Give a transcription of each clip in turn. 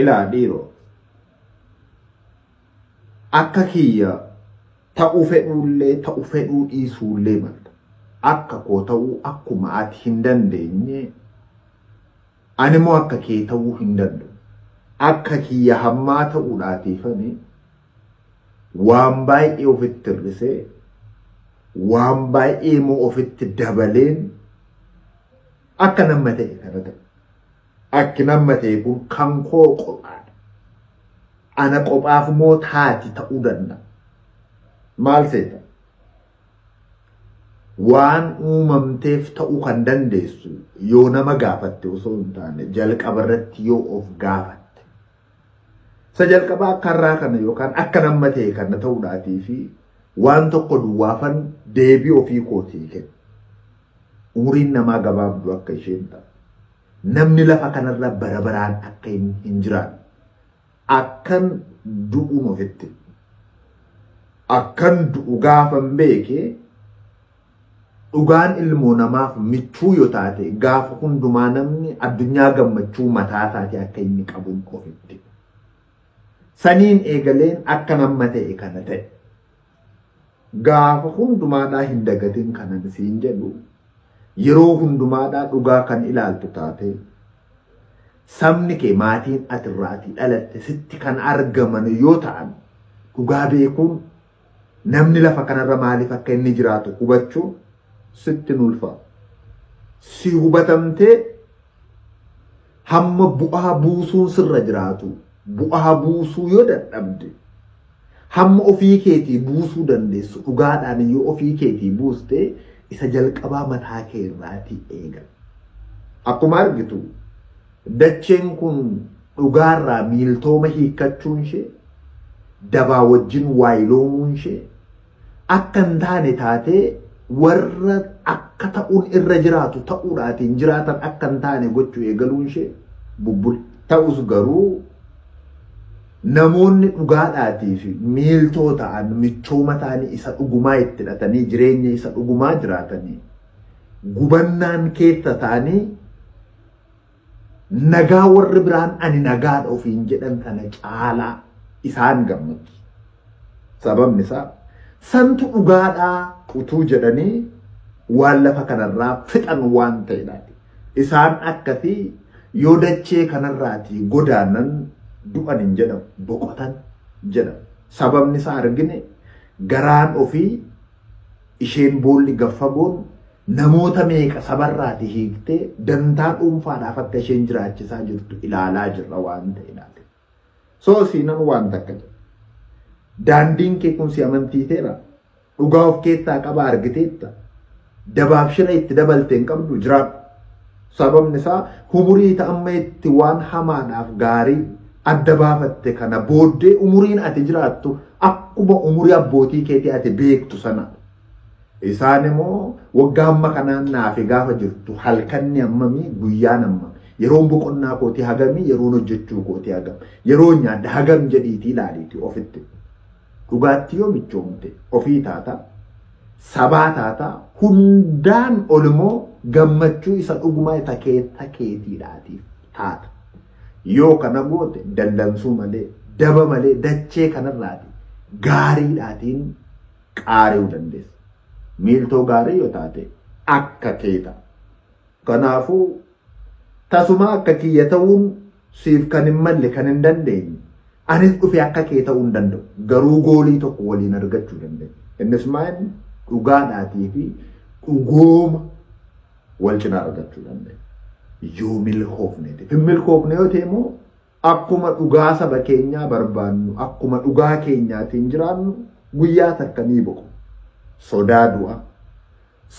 Ilaa dhiiro akka kiyya ta'uu fedhuullee ta'u fedhuu dhiisuullee malta. Akka koo ta'uu akkuma ati hin dandeenye animoo akka kee ta'uu hin danda'u. Akka kiyya hammaa ta'uudhaatiifani waan baay'ee ofitti hir'isee waan baay'ee immoo ofitti dabaleen akka nama ta'e kana ta'e. Akki namma ta'e kun kan koo qophaadha. Ana qophaaf moo taati ta'uu danda'a. Maal seeta? Waan uumamteef ta'uu kan dandeessu yoo nama gaafatte osoo hin taane jalqaba irratti yoo of gaafatte. Isa jalqabaa akka har'aa kana yookaan akka namma ta'e kana ta'uudhaatii fi waan tokko duwwaafan deebii ofii kootii kenna. Umuriin namaa gabaabduu akka isheen ta'a. Namni lafa kanarra bara baraan akka hin jiraanne. Akkan du'un ofitti hime. Akkan du'u gaafan beeke dhugaan ilmoo namaaf michuu yoo taate gaafa hundumaa namni addunyaa gammachuu mataa isaatii akka inni qabun ofitti hime. Saniin eegaleen akkan amma ta'e kana ta'e. Gaafa hundumaadhaa hin dagatin kanan siin jedhu yeroo hundumaadhaa dhugaa kan ilaaltu taatee sabni kee maatiin ati irraatii dhalatte sitti kan argaman yoo ta'an dhugaa beekuun namni lafa kanarra maaliif akka inni jiraatu hubachuu sitti nulfaa. Si hubatamtee hamma bu'aa buusuun sirra jiraatu bu'aa buusuu yoo dadhabde Hamma ofii keetii buusuu dandeessu dhugaadhaan yoo ofii keetii buuste isa jalqabaa mataa kee irraatii eegal. Akkuma argitu dacheen kun dhugaarraa miiltooma hiikkachuun ishee dabaa wajjin waayiloomuun ishee akka hin taane taatee warra akka ta'uun irra jiraatu ta'uudhaatiin jiraatan akka hin taane gochuu eegaluun ishee bubbule. Ta'us garuu namoonni dhugaadhaatii fi miiltoo ta'an michooma ta'anii isa dhugumaa itti hidhatanii jireenya isa dhugumaa jiraatanii gubannaan keessa isaanii nagaa warri biraan ani nagaadha ofiin jedhan kana caalaa isaan gammachiisa. Sababni isaa santu dhugaadhaa utuu jedhanii waan lafa kanarraa fixan waan ta'edha. Isaan akkasii yoo dachee kanarraatii godaanan du'an hin jedhamu boqotan jedhamu. Sababni isaa argine garaan ofii Isheen boolli gad fagoon namoota meeqa sabarraati hiiktee dantaa dhuunfaadhaaf akka isheen jiraachisaa jirtu ilaalaa jirra waan ta'e laate. Soo siinan waan takka jedha. Daandiin kee kun si amantiiseera. Dhugaa of keessaa qaba argiteetta. Dabaaf shira itti dabalte hin qabdu jiraadhu. Sababni isaa humurii ita amma itti waan hamaadhaaf gaarii adda baafatte kana booddee umuriin ati jiraattu akkuma umurii abbootii keetii ati beektu sana. Isaan immoo waggaa amma kanaan naafi gaafa jirtu halkanni ammamii guyyaan amma yeroon boqonnaa kootii hagamii yeroon hojjechuu kootii hagam yeroon nyaadda hagam jedhiitii ilaaliitii ofitti. Dhugaatti yoo michoomte ofii taata. sabaa taata hundaan ol immoo gammachuu isa dhugumaa isa keessa keetiidhaatiif taata. Yoo kana goote dallansuu malee daba malee dachee kanarraati gaariidhaatiin qaari'uu dandeessa. Miiltoo gaarii yoo taate akka keeta. Kanaafuu tasumaa akka kiyya ta'uun Siif kan hin malle, kan hin dandeenye, anis dhufee akka kee ta'uu hin danda'u. Garuu goolii tokko waliin argachuu dandeenya. Innis maa inni? Dhugaadhaatii fi dhugooma wal cinaa argachuu dandeenya. Yoo milkoofneetiif. Hin milkoofne yoo ta'e immoo akkuma dhugaa saba keenyaa barbaannu, akkuma dhugaa keenyaatiin jiraannu guyyaa takka ni boqu. Sodaa du'a,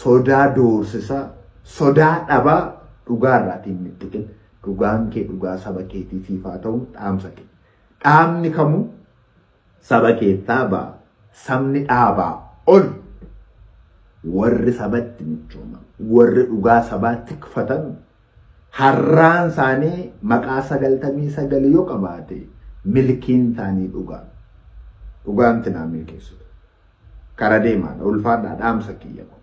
sodaa doorsisaa, sodaa dhabaa dhugaa irraati hin mixxiqin. Dhugaan kee dhugaa saba keetii siif haa ta'uun dhaamsa kiyya. Dhaabni kamuu saba keessaa ba'a. Sabni dhaabaa ol. Warri sabatti michooman, warri dhugaa sabaa tikfatan harraan isaanii maqaa 99 yoo qabaate milkiin isaanii dhugaa. Dhugaan tinaa milkeessitu. Kara deemaadha ulfaadhaa dhaamsa kiyya kun.